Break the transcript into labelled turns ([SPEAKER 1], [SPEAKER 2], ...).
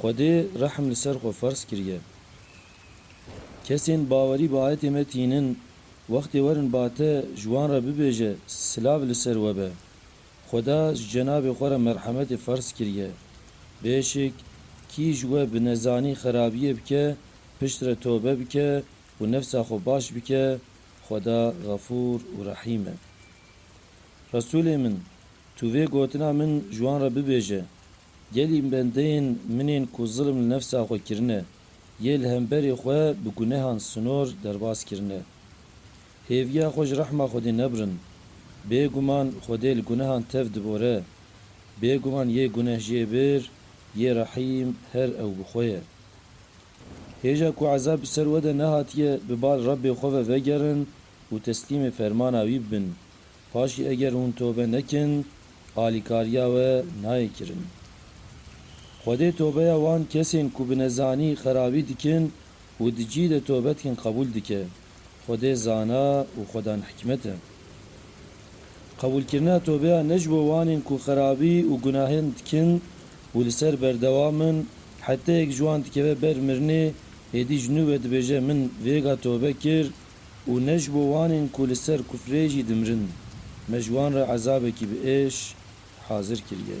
[SPEAKER 1] Xwedê rehm li ser xwe ferz kiriye. Kesên bawerî bi ayetê me tînin, wextê werin ba te ji wan re bibêje, Silav li ser we be. Xweda ji cenabê xwe re merhemetê ferz kiriye. Bêşik, kî ji we bi nezanî xerabiyê bike, piştre tobe bike û nefsa xwe baş bike, Xweda Xefûr û Rehîm e. Resûlê min, tu vê gotina min ji wan re bibêje. Gelî bendeyên min ên ku zilm li nefsa xwe kirine, yê li hemberê xwe bi gunehan sinor derbas kirine. Hêviya xwe ji rehma Xwedê nebirin. Bê guman Xwedê li gunehan tev dibore. Bê guman yê gunehjêbir, yê rehîm her ew bi xwe ye. Hêja ku ezab bi ser we de nehatiye, bi bal Rebbê xwe ve vegerin û teslîmê fermana wî bibin. Paşî eger hûn tobe nekin, alîkariya we nayê kirin. Xwedê tobeya wan kesên ku bi nezanî xerabî dikin û di cî de tobe dikin qebûl dike. Xwedê zana û xwedan hikmet e. Qebûlkirina tobeya ne ji bo wanên ku xerabî û gunahên dikin û li ser berdewam in, heteyek ji wan dikeve ber mirinê, êdî ji nû ve dibêje min vêga tobe kir Û ne ji bo wanên ku li ser kufrê jî dimirin, me ji wan re ezabekî bi êş hazir kiriye.